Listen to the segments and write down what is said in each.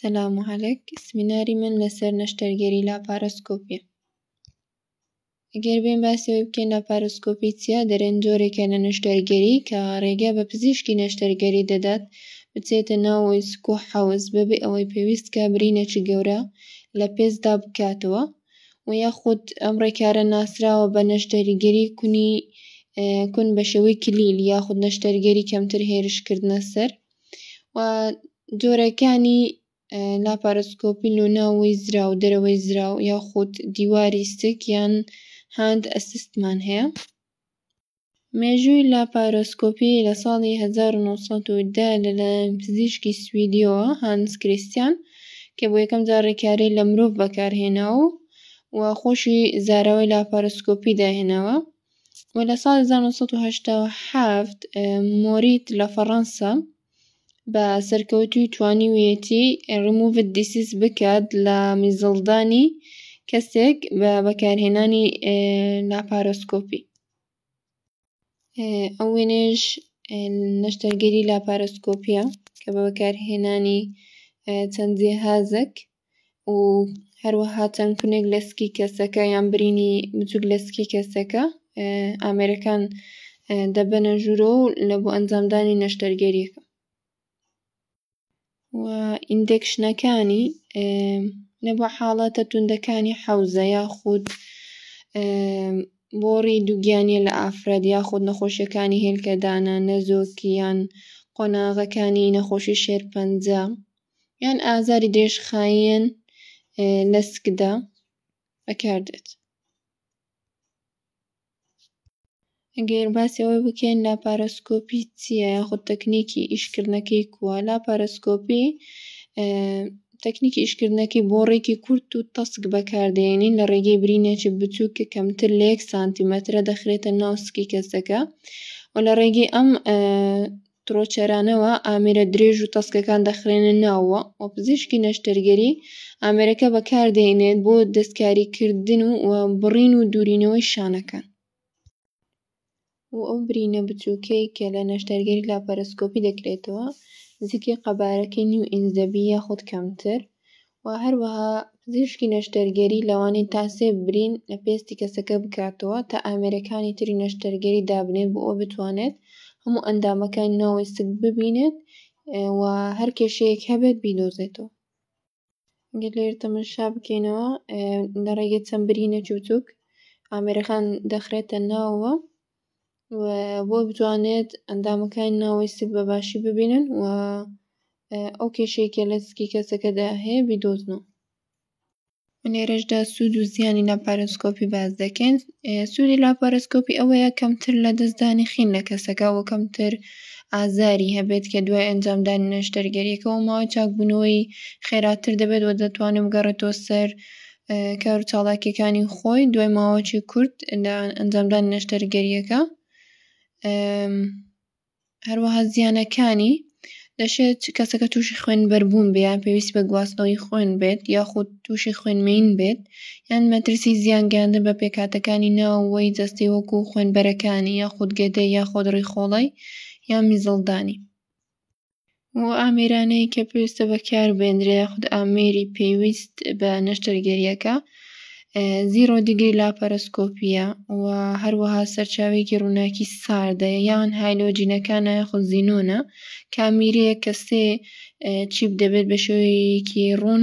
سلام و علیک سمیناری من لەسەر نەشتەرگەری لاپارۆسکۆپیە ئەگەر بێن باسی ئەوەی بکەین لاپارۆسکۆپی چیە دەرێن جۆرێکە لە نەشتەرگەری کە ڕێگە بە پزیشکی نەشتەرگەری دەدات بچێتە ناو ئیسک و حەوز بەبێ ئەوەی پێویست کە برینێکی گەورە لە پێستدا بکاتەوە و یاخود ئەم ڕێکارە ناسراوە بە نەشتەرگەری کونی کون بە شێوەی کلیل یاخود نەشتەرگەری کەمتر هێرشکردنە سەر و جۆرەکانی لاپارۆسکۆپی لۆ ناوەوەی زراو و دەرەوەی زراو یاخود دیواری ستک یان هاند ئەسیستمان هەیە مێژووی لاپارۆسکۆپی لە ساڵی هەزار و نۆ سەد و دە لەلایەن پزیشکی سویدیەوە هانس کریستیان کە بۆ یەکەم جار ڕێکاری لە مرۆڤ بەکارهێناوە و خۆشی زاراوەی لاپارۆسکۆپی داهێناوە و لە ساڵی هەزار و نۆ سەد و هەشتا و حەفت مۆریت لە فەڕەنسا بە سەرکەوتووی توانیویەتی ڕیموڤد دیسیس بکات لە میزەڵدانی کەسێک بە بەکارهێنانی لاپارۆسکۆپی ئەو وێنەیەش نەشتەرگەری لاپارۆسکۆپیە کە بە بەکارهێنانی چەند جیهازێک و هەروەها چەند کونێک لە سکی کەسەکە یان برینی بچوک لە سکی کەسەکە ئامێرەکان دەبەنە ژوورۆ و لە بۆ ئەنجامدانی نەشتەرگەریەکە و ئیندێکشنەکانی لە بۆ حاڵەتە توندەکانی حەوزە یاخود بۆڕی دووگیانە لە ئافرەت یاخود نەخۆشیەکانی هێلکەدانە نەزۆکیان قۆناغەکانی نەخۆشی شێرپەنجە یان ئازاری درێژخایەن لە سکدا بەکاردێت. ئەگەر باسی ئەوەی بکەین لاپارۆسکۆپی چییە یاخود تەکنیکی ئیشکردنەکەی کووە لاپارۆسکۆپی تەکنیکی ئیشکردنەکەی بۆ ڕێکی کورت و تەسک بەکاردێنین لە ڕێگەی برینێکی بچووک کە کەمتر لە یەک سانتیمەترە دەخرێتە ناو سکی کەسەکە و لە ڕێگەی ئەم تڕۆچەرانەوە ئامێرە درێژ و تەسکەکان دەخرێنە ناوەوە و پزیشکی نەشتەرگەری ئامێرەکە بەکاردەهێنێت بۆ دەستکاریکردن و بڕین و دوورینەوەی شانەکان و ئەو برینە بچووکەی کە لە نەشتەرگەری لاپەرەسکۆپی دەکرێتەوە نزیکەی قەبارەکەی نیو ئینج دەبی یاخود کەمتر و هەروەها پزیشکی نەشتەرگەری لەوانەیە تا سێ برین لە پێستی کەسەکە بکاتەوە تا ئامێرەکانی تری نەشتەرگەری دابنێت بۆ ئەوە بتوانێت هەموو ئەندامەکانی ناوەوەی سک ببینێت و هەر کێشەیەک هەبێت بیدۆزێتەوە. گەر لێرە تەمەشا بکەینەوە لە ڕێگەی چەند برینێکی بچووک ئامێرەکان دەخرێتە ناوەوە و بۆ بتوانێت ئەندامەکانی ناوەی سک بە باشی ببینن و ئەو کێشەی کە لە سکی کەسەکەدا هەیە بیدۆزنەوە لێرەشدا سوود و زیانی لاپارۆسکۆپی باز دەکەین سوودی لاپارۆسکۆپی ئەوەیە کەمتر لە دەستدانی خین لە کەسەکە و کەمتر ئازاری هەبێت کە دوای ئەنجامدانی نەشتەرگەریەکەەوە ماوەی چاکبوونەوەی خێراتر دەبێت و دەتوانێت بگەڕێتەوە سەر کار و چاڵاکیەکانی خۆی دوای ماوەکی کورت لە ئەنجامدان نەشتەرگەریەکە هەروەها زیانەکانی دەشێت چ کەسەکە تووشی خوێن بەربوون بیان پێویست بە گواستنەوەی خوێن بێت یاخود تووشی خوێنمەین بێت یان مەترسی زیان گەیاندن بە پێکاتەکانی ناوەوەی جەستەی وەکو خوێنبەرەکانی یاخود گەدە یاخۆدڕی خۆڵی یا میزڵدانی و ئامێرانەی کە پێویستە بەکاربێنرێ یاخود ئامێری پێویست بە نەشتەرگەریەکە زیرۆ دیگری لاپەرۆسکۆپیە و هەروەها سەرچاوێکی ڕووناکی ساردە یان هایلۆجینەکانە یاخود زینۆنە کامیرەیە کە سێ چیپ دەبێت بە شێوەیەکی ڕوون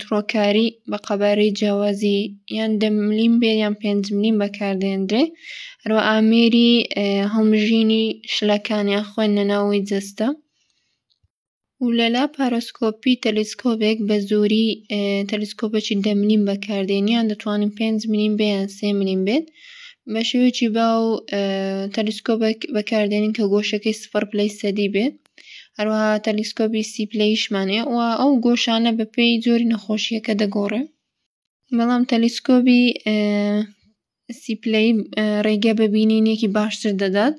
تڕۆکاری بە قەبارەی جیاوازی یان دە ملیم بێ یان پێنج ملیم بەکاردێنرێ هەروە ئامێری هەڵمژینی شلەکان یان خوێندنە ناوەوەی جەستە و لەلا پارۆسکۆپی تەلیسکۆبێک بە زۆری تەلیسکۆپەکی دە ملیم بەکاردێن یان دەتوانین پێنج ملیم بێ یان سێ ملیم بێت بە شێوەیەکی باو تەلیسکۆبێک بەکاردێنین کە گۆشەکەی سفر پلەی سەدی بێت هەروەها تەلیسکۆبی سیپلەیشمان هەیە و ئەو گۆشانە بە پێی جۆری نەخۆشیەکە دەگۆڕێ بەڵام تەلیسکۆبی سیپلەی ڕێگە بە بینینێکی باشتر دەدات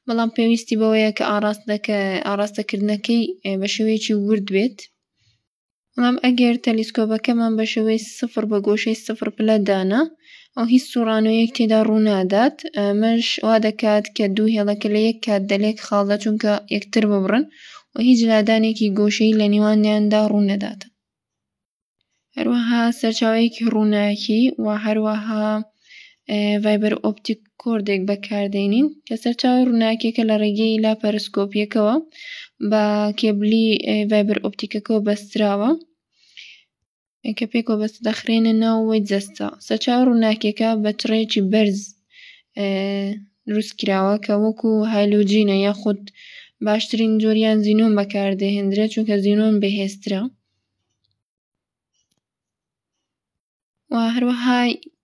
بەڵام پێویستی بەوەیە کە ئاراستەکە ئاراستەکردنەکەی بە شێوەیەکی ورد بێت بەڵام ئەگەر تەلیسکۆبەکەمان بە شێوەی سفر بە گۆشەی سفر پلە دانا ئەو هیچ سوڕانەوەیەک تێدا ڕوو نادات ئەمەش وا دەکات کە دوو هێڵەکە لە یەک کات دە لێک خاڵدا چونکە یەکتر ببڕن و هیچ لادانێکی گۆشەی لە نێوانیاندا ڕوو نەدات هەروەها سەرچاوەیەکی ڕووناکی و هەروەها ڤایبەر ئۆپتیک کۆردێک بەکاردێنین کە سەرچاوەی ڕووناکیەکە لە ڕێگەی لاپەرسکۆپیەکەوە بە کێبلی ڤایبەر ئۆپتیکەکەەوە بەستراوە کە پێکەوە بەست دەخرێنە ناوەوەی جەستە سەرچاو ڕووناکیەکە بە چڕێکی بەرز دروست کراوە کە وەکو هایلوجینە یاخود باشترین جۆریان زینۆن بەکاردەهێندرێت چونکە زینۆن بەهێزترە و هەروەها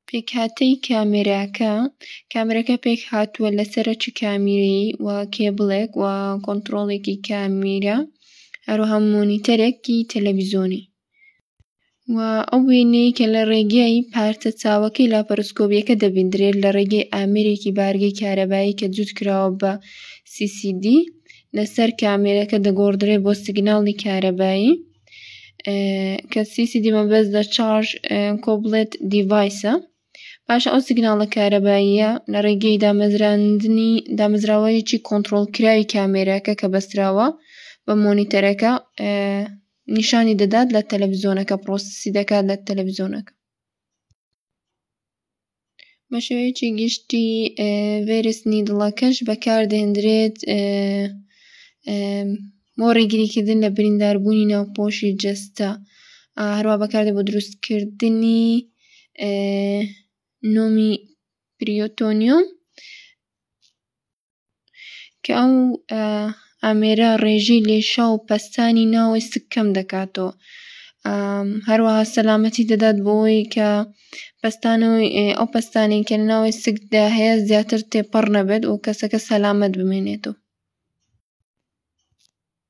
پێکهاتەی کامێراکە کامێراکە پێکهاتووە لە سەرەکی کامیرەیی و کێبڵێک و کۆنتڕۆڵێکی کامیرە هەروەها مۆنیتەرێکی تەلەڤیزۆنی و ئەو وێنەی کە لە ڕێگەی پارچە چاوەکەی لاپەرۆسکۆبیەکە دەبیندرێت لە ڕێگەی ئامێرێکی بارگەی کارەبایی کە جووت کراوە بە CCD لەسەر کامێرەکە دەگۆڕدرێت بۆ سیگناڵی کارەبایی کە سیسی دیمە بەس لە چارژ کۆبڵێت دیڤایسە پاشە ئەو سیگناڵە کارەباییە لە ڕێگەی دامەزراندنی دامەزراوەیەکی کۆنتترۆلکراوی کامێراکە کە بەستراوە بە مۆنیتەرەکە نیشانی دەدات لە تەلەڤزیۆنەکە پرۆسیسی دەکات لە تەلەڤزیۆنەکە بە شێوەیەکی گشتی ڤێرسنی دڵەکەش بەکاردەهێندرێت بۆ ڕێگریکردن لە برینداربوونی ناوپۆشی جەستە هەروا بەکاردێ بۆ دروستکردنی نۆمی پریۆتۆنیۆم. کە ئەو ئامێرە ڕێژەی لێشا و پەستانی ناوەی سک کەم دەکاتەوە هەروەها سەلامەتی دەدات بۆی کە پەستان و ئەو پەستانی کە ناوەی سکدا هەیە زیاتر تێپەڕ نەبێت و کەسەکە سەلامەت بمێنێتەوە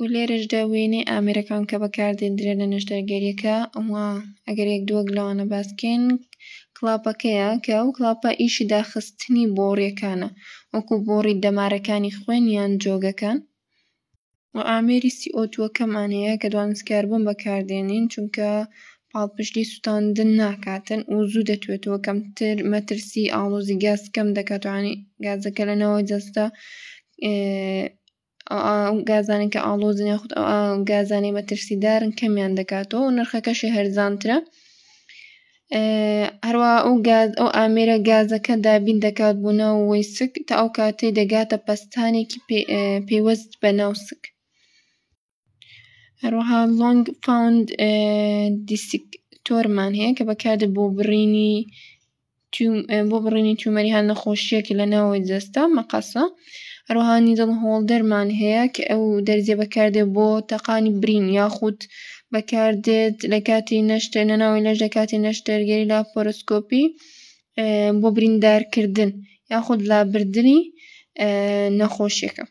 و لێرەشدا وێنەی ئامێرەکان کە بەکاردێندرێن لە نەشتەرگەریەکە ئەوا ئەگەر یەک دووەک لەوانە باس بکەین کڵاپەکەیە کە ئەو کڵاپە ئیشی داخستنی بۆڕیەکانە وەکو بۆڕی دەمارەکانی خوێن یان جۆگەکان و ئامێری سیئۆتووەکەمان هەیە کە دوانسکاربوون بەکاردێنین چونکە پاڵپشتی سووتاندن ناکاتن و زوو دەتوێتەوە کەمتر مەترسی ئاڵۆزی گاز کەم دەکاتوانی گازەکە لەنەوە جەستە ئەو گازانەی کە ئاڵۆزن یاخود ئەو گازانەی مەترسیدارن کەمیان دەکاتەوە و نرخەکەشی هەرزانترە هەروە ئەو گاز ئەو ئامێرە گازەکە دابین دەکات بۆ ناو وەیسک تا ئەو کاتەی دەگاتە پەستانێکی پێوەست بە ناوسک هەروەها لۆنگ فاوند دیسک تۆرمان هەیە کە بەکاردە بۆ بڕینی بۆ بڕینی تومەری هەر نەخۆشیەکی لە ناوەوەی جەستە مەقەسە هەروەها نیدڵ هۆڵدەرمان هەیە کە ئەو دەرزیە بەکاردێ بۆ تەقانی برین یاخود بەکاردێت لە کاتی نەشتەر لە ناوەوەی لەش لە کاتی نەشتەرگەری لاپۆرۆسکۆپی بۆ بریندار کردن یاخود لابردنی نەخۆشیەکە.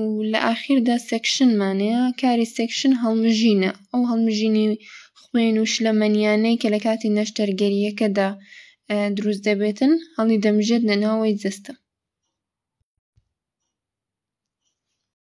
و لە ئاخیردا سێکشنمان هەیە کاری سێکشن هەڵمژینە ئەو هەڵمژینی خوێن و شلەمەنیانەی کە لە کاتی نەشتەرگەریەکەدا دروست دەبێتن هەڵی دەمژێت لە ناوەوەی جەستە.